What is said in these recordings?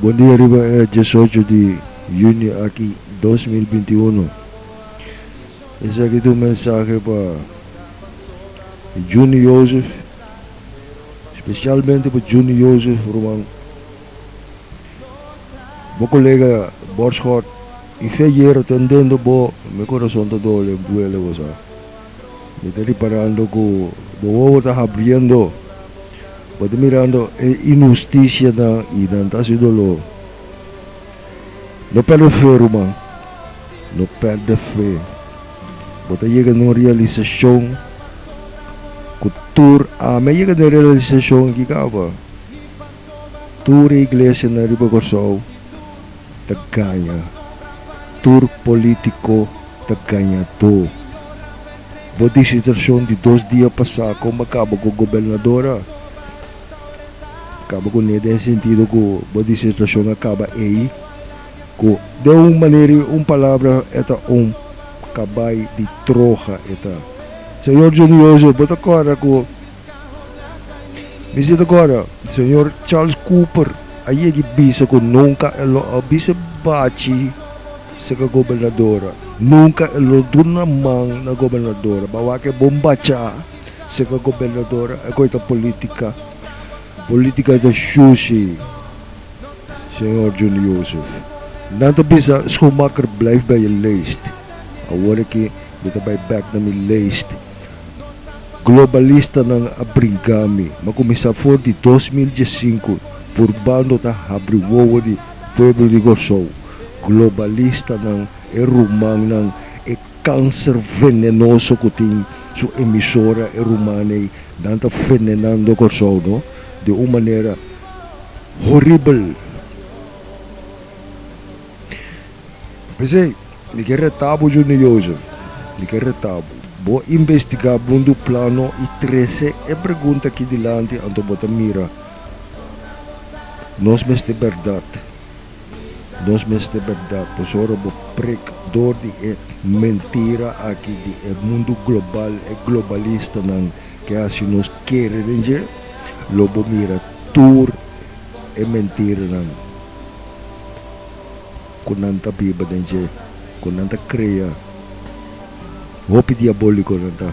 Bon dia riba e diesocho di Junio aki dos mil binti uno. Esaki ta un mensahe pa Juni Jozef, specialmente pa Juni Jozef ruman, bo colega Borschot y Feyera ta dentro bo, mi corazon ta doble, mi duele bo sa. Mi ta riparando ku bo wowo ta habriendo. Bo ta mirando e inhustisianan i nan ta hasi doló. No pèrdè fe, ruman. No pèrdè fe. Bo ta yega na un realisashon ku tur, ami a yega na e realisashon aki kaba, tur e iglesianan riba Kòrsou, ta gaña, tur polítiko ta gañadó. Bo disitrashon di dos dia pasá kon bo a kaba ku gobernadora a kaba ku ne den e sentido ku bo disitrashon a kaba ei ku den un manera i un palabra e ta un kabai di troha e ta. Señor Johnny José bo ta kòrda ku. Visitadora, Señor Charles Cooper a yega i bisa ku nunka e lo a bisa bachi seka gobernadora. Nunka e lo duna man na gobernadora. Ba wak e bon bacha seka gobernadora. E kos ta politika. Politika ta shushi, Señor Juni Joseph. Nan ta bisa, Schoenmaker, blijf bij je lijst. Awor aki mi ta bai bek na mi lijst. Globalistanan a brinka mi, ma kuminsá for di dos mil diesinku por bando ta habri wowo di pueblo di Kòrsou. Globalistanan, e rumannan, e kanser venenoso ku tin su emisora, e ruman ei, nan ta venenando Kòrsou no di un manera horibel. P'esei, mi ke retabu Junior Jozef, mi ke retabu, bo investigá bundu plano i trese e pregunta aki dilanti anto bo ta mira. Nos mester bèrdat, nos mester bèrdat, pasobra bo prek dor di e mentira aki di e mundu global, e globalistanan ke hasi nos kere den dje, lo bo mira tur e mentiranan. ku nan ta biba den dje ku nan ta krea hopi diaboliko nan ta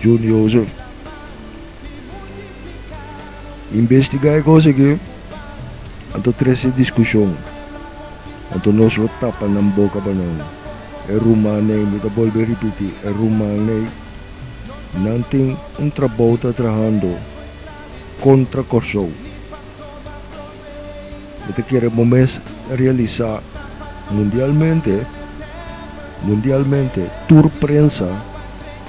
junioso investigá e kos aki anto trese diskushon anto nos lo tapa nan boka pa nan e rumanei mi ta bolbe ripiti e rumanei nan tin un trabou ta trahando. kontra Kòrsou. Mi ta kere bo mes realisá mundialmente, mundialmente, tur prensa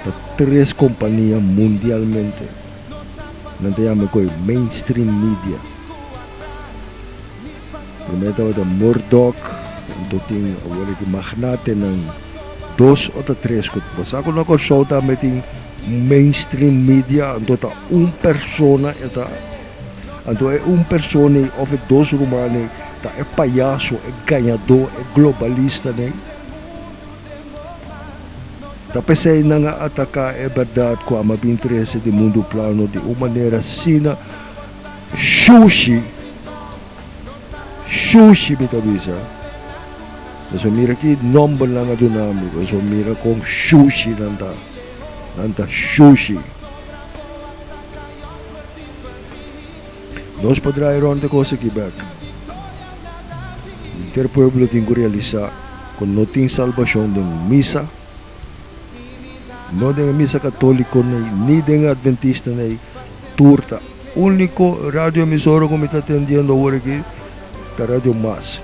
ta tres kompania mundialmente. Nan ta yama e ku ei mainstream media. Promé tabata Murdock, anto tin awor di magnatenan dos o ta tres ku ta basa ku no Kòrsou tambe tin un mainstream media anto ta un persona e ta anto e un persona ei òf e dos ruman ei ta e payaso e gañadó e globalistanan ta p'esei nan a ataká e bèrdat ku a mabin trese di mundu plano di un manera asina Shushi, shushi mi ta bisa. Eso mira ki nomber nan a duna mi pues eso mira con shushi nan ta, nan ta shushi. Nos por draai rond e cos aki bek. Inter pueblo tin cu realisa cu no tin salbacion den misa. No den e misa catoliconey, ni den e adventistaney tur ta. Unico radioemisora cu mi ta atendiendo awor aki ta Radio Mas.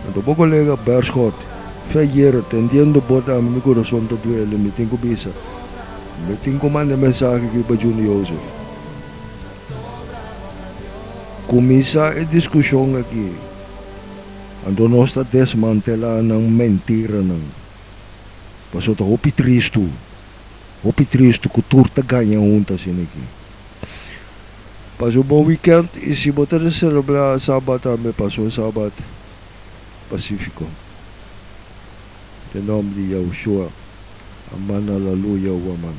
Anto bo colega Berschoot, Fe Jero, tendiendo bo ta ami mi corazon ta duele, mi tin cu bisa, mi tin cu manda e mensahe aki pa Junior Joseph. Cuminsa e discusion aki. Anto nos ta desmantelá nan mentiranan. Paso ta hopi tristu, hopi tristu ku tur ta gaña hunta asin'aki. Pasa un bon wikènt i si bo ta selebrá Sabat tambe, pasa un Sabat pasífiko. Den nòmber di Yahushuá. Aman, Alaluya, Huaman.